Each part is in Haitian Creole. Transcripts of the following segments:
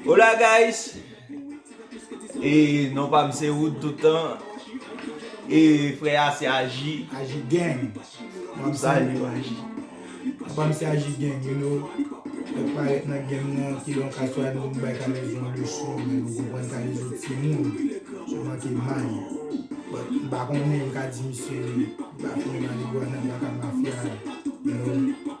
Hola guys E non pa m se Wood toutan E frè a se Aji Aji gang Wap salye yo Aji Papa m se Aji gang you know Frè k parèt nan game nan ki lè yon ka swa nou bay kalezo yon leson men nou konprann kalezo timoun sou manke may but m pa konnen m ka di misye li pa fini marigwana li pa ka mafya you know.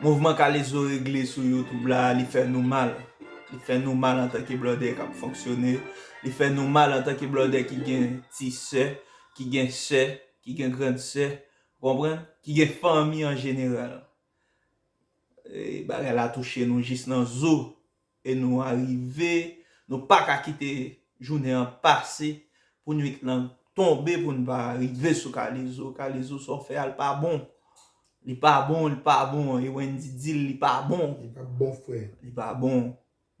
Mouvman kalezo regle sou youtube la li fè nou mal li fè nou mal antanke blòdè kap fonksyone li fè nou mal antanke blòdè ki gen ti sè ki gen sè ki gen grand sè ou konprann ki gen fanmi an jeneral bagay la touche nou jis nan zo. E nou arive, nou pa ka kite jounen an pase pou nwit lan tonbe pou n pa rive sou Kalezo. Kalezo sa w fè a l pa bon. Li pa bon, li pa bon. E Wendy di l li pa bon. Li pa bon frè. Li pa bon.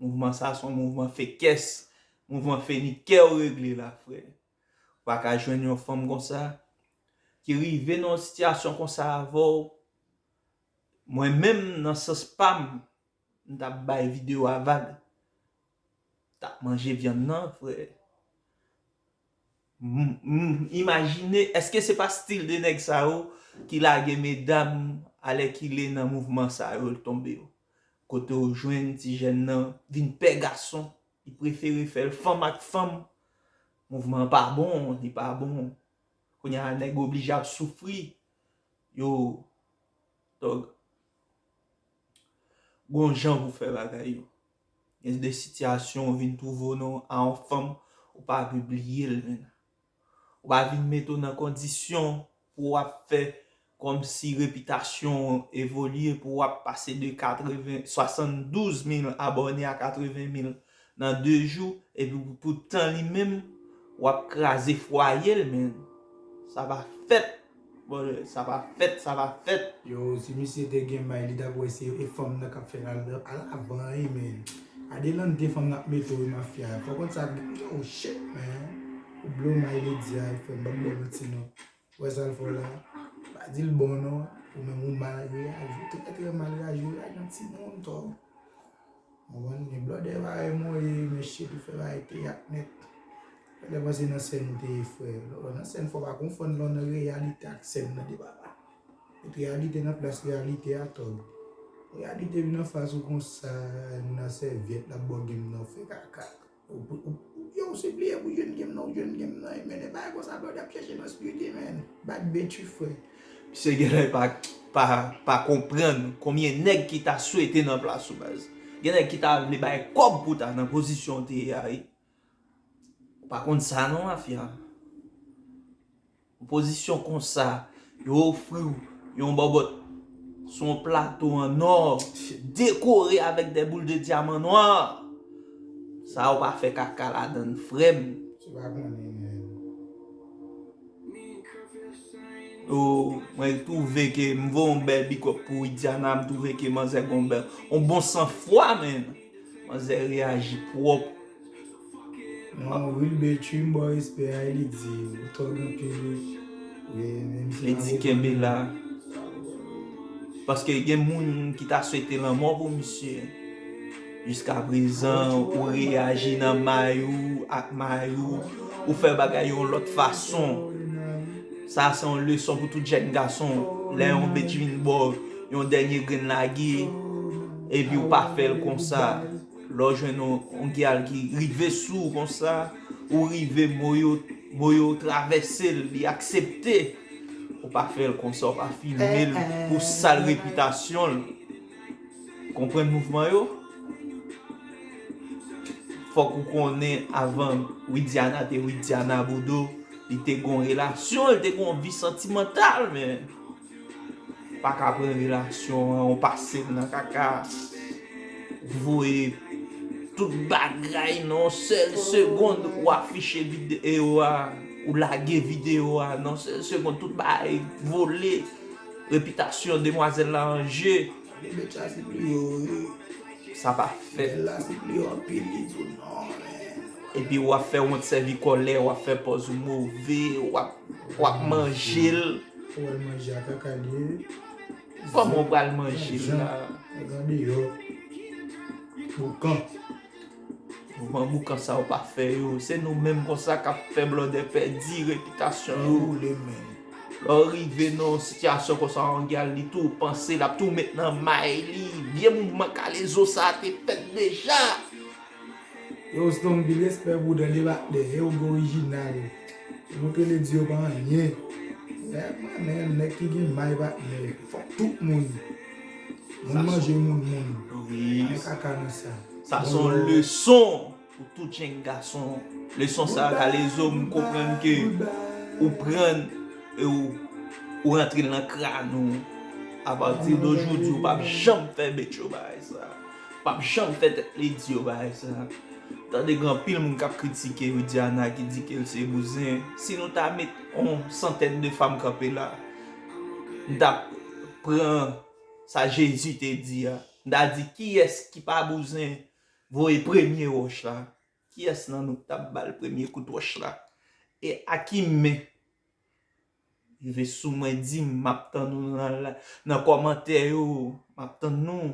Mouvman sa son mouvman fekès. Mouvman fenikè w regle la frè. Ou pa ka jwenn yon fanm konsa ki rive nan yon sitiyasyon konsa avè w. Mwen menm nan sans pa m, M tap bay video a vag. Tap manje vyann nan frè. M imajine eske se pa stil de nèg sa yo ki lage medam alèkile nan mouvman sa yo l tonbe yo. Kote w jwenn ti jèn nan vin pè gason, li prefere fè l fanm ak fanm. Mouvman an pa bon, li pa bon. Kounya a nèg oblije ap soufri. Yo tòg. Gon jan pou fè bagay yo. Gen de sitiyasyon ou vin twouve w nan a yon fanm ou pa vle bliye l menm. Ou pa vin mete w nan kondisyon pou w ap fè kòmsi repitasyon w evolye pou w ap pase de 80, 72 mil abòne a 80 mil. Nan 2 jou epi pou tan li menm wap kraze fwayel menn sa pa fèt brother sa pa fèt sa pa fèt. Yo si misye te gen may li tap wè se e fanm nan kap fèl alavan wi menn adelante fanm nan ap mete wi mafya fòk konn sa oh shit man ou blow may lady a frèm banm bèl manti non. Ou wè sal fè w la, pa di l bon non, ou menm ou mal reyaji, trè trè mal reyaji, ou reyaji yon ti moun to. Konprann, gen blòdè parèy mwen yo ye mesye pou fè bagay teyat nèt. Mwen te panse nan sèn ou te ye frè, lò nan sèn fò pa konfonn lò nan reyalite ak sèn nan 2 bagay. Met reyalite nan plas reyalite a tòg. Reyalite vin anfas ou konsa, moun nan sèvyèt lap bo gin nan, ou fè kaka. Yow se priye pou jèn gem nan ou jèn gem nan amen epa konsa brother ap chèche nan spirit amen bat be tu frè. Misye genlè pa konprann konbyen nèg ki ta swete nan plas ou baz. Gen nèg ki ta vle bay kòb pou ta nan pozisyon ou te ye a wi. Ou pa konn sa non mafya. Yon pozisyon konsa, yo ofri w yon bòbòt sou yon plato an ò, dekore avèk dè boul de dyaman nwa. Sa ou pa fè kaka ladan l frè m. O, mwen twouve ke m voye yon bèl big up pou Widiana, m twouve ke manzè gen yon bon san fwa menn. Manzè reyaji pwòp. Nan wilber chrim baw respè a li di ou tòg anpil li di kenbe la paske gen moun ki ta swete lanmò pou misye jiska prezan ou reyaji nan may ou ak may ou ou fè bagay yon lòt fason sa se yon leson pou tout jèn gason lè yon bitch vin baw yon dènye grenn lage epi ou pa fèl konsa. Lè w jwenn yon gyal ki rive sou ou konsa, ou rive mo yo mo yo travèse l, li aksepte, ou pa fè l konsa, ou pa filme l pou sal repitasyon l. Ou konprann mouvman yo? Fòk ou konnen avan Widiana te Widiana Bodo, li te gen yon relasyon, li te gen yon vi santimantal men. Pa ka pran relasyon an ou pase l nan kaka. Ou voye tout bagay nan yon sèl segond ou afiche videyo a, ou lage videyo a nan yon sèl segond tout bagay vole, repitasyon demwazèl la an je. Bèbèt sa se pou yo wi. Sa pa fèt. Bèl la se pou yo anpil li di w non men. Epi w ap fè wont sèvi kòlè, w ap fè pòz ou move, w ap manje l. Ou al manje a kaka liye wi. Koman ou pral manje l la. Andan deyò. Boukan. Kouman boukan sa ou pa fè yo. Se nou menm konsa kap fè blòdè pèdi repitasyon yo. Ou le menm. Lè ou rive nan yon sitiyasyon konsa ou gen al li tou panse lap tou met nan may li. Vye mouvman kalezo sa te fèt deja. Yow stonby respè pou dan deba dèyè ou gen orijinal ou ke le di yo pa anyen dèyè manen nèg ki gen may patnè fòk tout moun moun manje moun moun anyen kaka nan sa sa son leson pou tout jenn gason leson sa kalezo m konprann ke ou prann e ou ou rantre nan kran ou apati dojou di ou pap janm fè betchou bay sa. Pap janm fè tèt li di yo bagay sa. Tande gen anpil moun kap kritike Widiana ki di kel se bouzen. Si nou ta met on santèn de fanm kanpe la, m ta pran sa Jezi te di a. M ta di kiyès ki pa bouzen voye premye wòch la. Kiyès nan nou ki tap bal premye kout wòch la? E a ki men? Rive sou mwen dim map tann ou nan kòmantè yo. Map tann nou.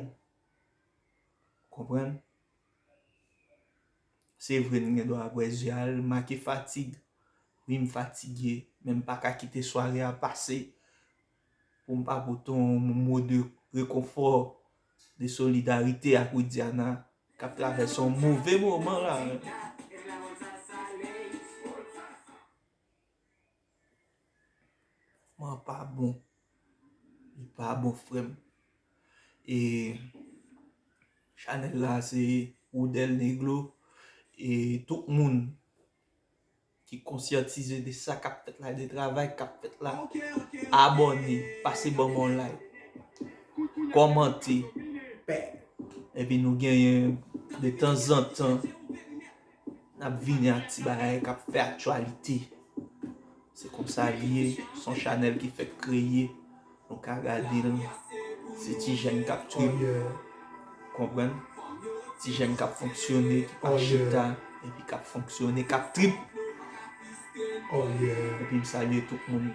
Konprann? Se vre nou gen dwa bwè je al make fatig. Wi m fatige, men m pa ka kite sware a pase pou m pa pote yon mo de rekonfò, de solidarite ak Widiana k ap travèse yon move moman la. Mouvman an pa bon. Li pa bon frè m. E chanèl la se Woudèl Negro e tout moun ki konsyantize de sa k ap fèt la, de travay k ap fèt la, abòne, pase ban mwen yon like, kòmante, epi nou genyen de tanzantan. N ap vini ak ti bagay k ap fè aktyalite. Se konsa li ye, s on chanèl ki fèk kreye. Nou ka gade l, se ti jèn k ap triye. Ou konprann? Ti jèn k ap fonksyone, ki pa chita, epi k ap fonksyone, k ap trip. Epi m salye tout moun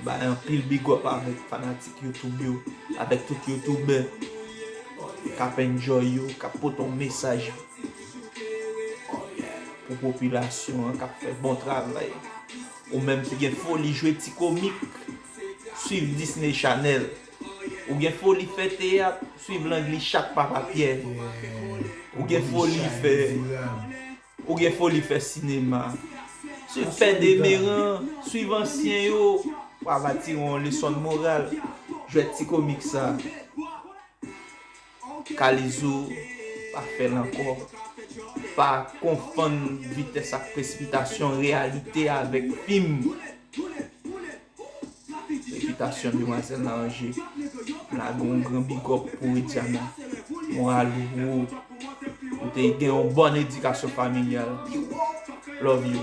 Bay anpil big up avèk fanatik youtube yo Avèk tout youtubè K ap enjoy yo K ap pote yon mesaj Pou popilasyon an K ap fè bon travay Ou menm ki gen foli jwe ti komik Swiv Disney Channel Ou gen foli fè teyat Swiv Langli Chak Papa Pyè Ou gen foli fè Ou gen foli fè sinema. Se fè demeran, swiv ansyen yo. Wa va tire yon lesson moral. Jwèt ti komik sa. Kalizo pa fèl ankò. Pa konfonn vitès ak presipitasyon, reyalite avèk fim. Felisitasyon demwazel nan anje lage yon gran bigòp pou widiana moral ou wo ou te gen yon bòn edikasyon familyal love you.